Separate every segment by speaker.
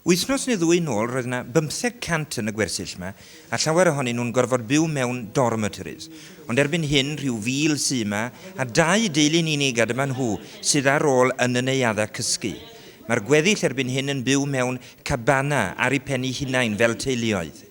Speaker 1: Wythnos neu ddwy nôl roedd yna bymtheg cant yn y gwersyll yma a llawer ohonyn nhw'n gorfod byw mewn dormitories. Ond erbyn hyn, rhyw fil sy yma a dau deulu'n unig a dyma nhw sydd ar ôl yn y neuaddau cysgu. Mae'r gweddill erbyn hyn yn byw mewn cabana ar eu pen eu hunain fel teuluoedd.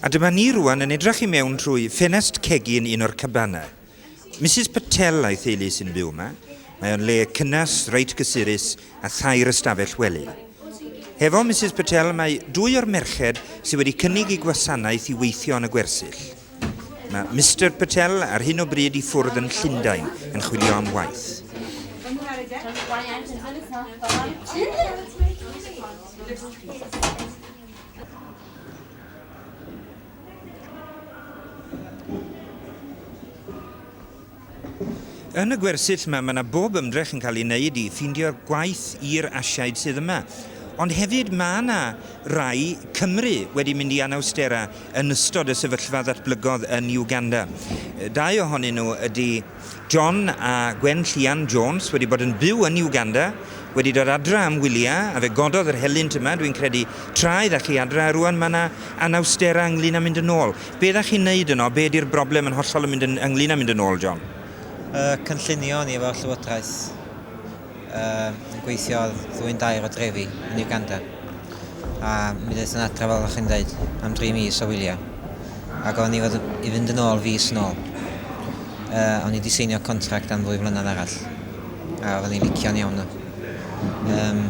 Speaker 1: A dyma ni rŵan yn edrych i mewn trwy ffenest cegin un o'r cabanau. Misus Patel a'i theulu sy'n byw yma. Mae o'n le cynnes, reit gysurus a thair ystafell wely. Hefo Misus Patel mae dwy o'r merched sydd wedi cynnig i gwasanaeth i weithio yn y gwersyll. Mae Mister Patel ar hyn o bryd i ffwrdd yn Llundain yn chwilio am waith. Yn y gwersyll yma, mae yna bob ymdrech yn cael ei wneud i ffindio gwaith i'r Asiaid sydd yma. Ond hefyd mae yna rai Cymry wedi mynd i Anawstera yn ystod y sefyllfa ddatblygodd yn Uganda. Dau ohonyn nhw ydy John a Gwen Llian Jones wedi bod yn byw yn Uganda, wedi dod adra am wylia a fe gododd yr helynt yma dwi'n credu tra idda chi adra a rwan ma na anawstera ynglyn a mynd yn ôl. Be dda chi'n neud yno, be di'r broblem yn hollol yn mynd yn ynglyn a mynd yn ôl John? Y cynllunio
Speaker 2: ni efo llywodraeth. Yym, yn gweithio ar ddwyn dair o drefi yn Uganda. A mi ddaeth yn adra fel o'ch chi'n dweud am dri mis o wylio. A gofyn i fod i fynd yn ôl fis yn ôl. Uh, o'n i wedi seinio contract am ddwy flynedd arall. A oeddwn i'n licio'n iawn nhw. Um,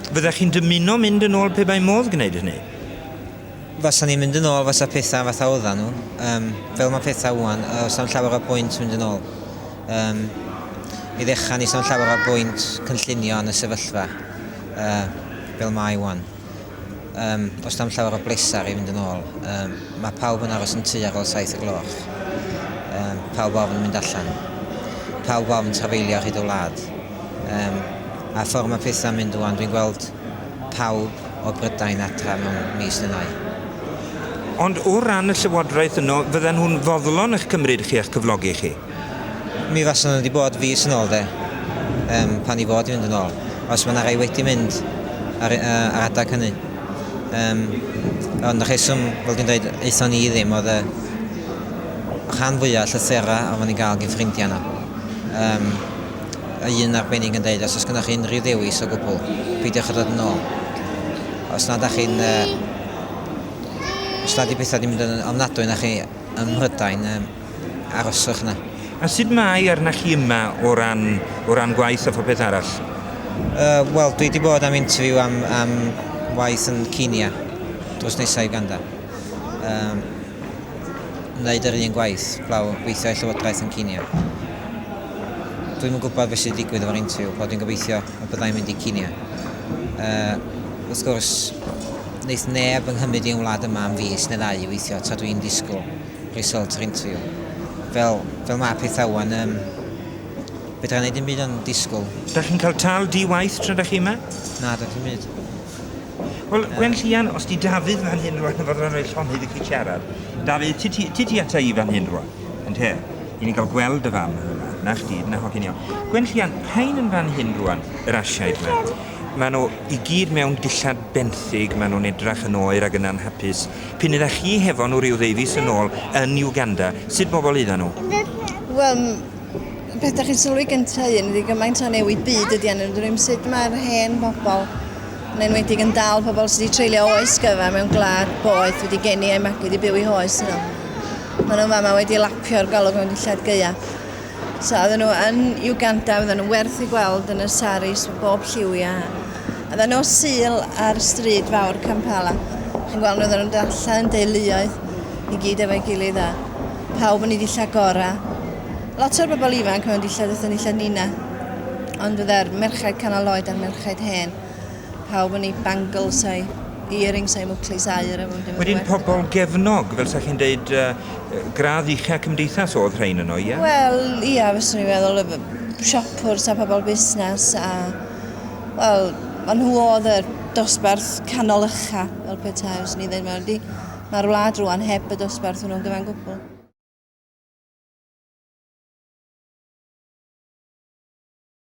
Speaker 1: Fyddech chi'n dymuno mynd yn ôl pe bai modd gwneud hynny? Fasa
Speaker 2: ni'n mynd yn ôl fasa pethau fatha oedda nhw. Um, fel mae pethau wwan, os am llawer o bwynt mynd yn ôl. Yym, i ddechrau, ni sôn llawer o'r bwynt cynllunio yn y sefyllfa uh, fel mae wan. Um, os dam llawer o blesar i fynd yn ôl, um, mae pawb yn aros yn tu ar ôl saith y gloch. Um, pawb ofn mynd allan. Pawb ofn trafeilio hyd y wlad. Um, a ffordd mae pethau'n mynd wan, dwi'n gweld pawb o Brydain adra mewn mis neu ddau. Ond o ran y
Speaker 1: llywodraeth yno, fydden nhw'n foddlon eich cymryd chi a'ch cyflogi chi? Mi fasen
Speaker 2: nhw 'di bod fis yn ôl 'de? Yym, pan i fod i fynd yn ôl. Os ma' 'na rai wedi mynd ar yy ar adag hynny. Yym, ond y rheswm, fel dwi'n deud, aethon ni ddim oedd y rhan fwya o llythyra oeddan ni'n ga'l gin ffrindia nhw. Yym, a un arbennig yn deud, os oes gynnoch chi unrhyw ddewis o gwbwl, peidiwch â dod yn ôl. Os nad 'dach chi'n yy, os nad 'di petha 'di mynd yn ofnadwy arnoch chi ym Mhrydain, yym, aroswch 'na. A sut mae
Speaker 1: arnach chi yma o ran, o ran gwaith a phopeth arall? Yy,
Speaker 2: wel, dwi 'di bod am interview am, am waith yn Kenya drws nesa' i Uganda. Yym, wneud yr un gwaith, blaw, gweithio i Llywodraeth yn Kenya. Dwi'm yn gwybod beth sydd digwydd efo'r interview, ond dwi'n gobeithio y bydda i'n mynd i Kenya. Yy, wrth gwrs, wneith neb yng nghymryd i'n wlad yma am fis neu ddau i weithio tra dwi'n disgwyl. Result yr interview. Fel, fel ma pethau wan yym fedra neud dim byd ond disgwl. Dach chi'n cael tâl
Speaker 1: di waith tra dach chi yma? Na does dim byd.
Speaker 2: Wel
Speaker 1: Gwen Llian, os di Dafydd fan hyn rwan yn fodlon rhoi llond iddi chi siarad. Dafydd, ti ti ti ti ata i fan hyn rwan, ynte? I ni'n cael gweld dy fam yn yma. Na chdi, na hogyn iawn. Gwen Llian, rhain yn fan hyn rwan, yr Asiaid ma. Ma nhw i gyd mewn dillad benthyg, ma nhw'n edrach yn oer ag yn anhapus. P'un ydach chi hefo nhw ryw ddeufis yn ôl yn Uganda, sut bobl oeddan nhw? Wel, m-
Speaker 3: peth 'dach chi'n sylwi gynta un ydy gymaint o newid byd ydy arnyn nhw. Dyn nhw'm sut mae'r hen bobl, yn enwedig yn dal pobl sydd wedi treulio oes gyfa mewn gwlad boeth wedi geni a'u magu wedi byw i hoes nhw. Maen nhw'n fama wedi lapio'r golwg mewn dillad gaeaf. So oedden nhw yn Uganda, oedden nhw'n werth i gweld yn y saris o bob lliwia. Oedden nhw syl ar stryd fawr Kampala. Chi'n gweld nhw oedden nhw'n dalla yn deuluoedd i gyd efo'i gilydd a pawb yn ei ddilla gora. Lot o'r bobl ifanc mewn dillad, oedden nhw'n dillad nina. Ond fydda'r merched canol oed a'r merched hen. pawb yn ei bangles a'i earrings a'i mwclis aur. Wedyn pobl
Speaker 1: gefnog, fel sa chi'n deud, uh, gradd
Speaker 3: uchel
Speaker 1: cymdeithas oedd rhain yno, ie?
Speaker 3: Yeah?
Speaker 1: Wel, ie, yeah,
Speaker 3: fes
Speaker 1: i'n meddwl,
Speaker 3: siopwrs a pobl busnes a... Wel, maen nhw oedd y dosbarth canol ycha, fel petai, os ni'n dweud, mae'r wlad rwan heb y dosbarth hwnnw'n gyfan gwbl.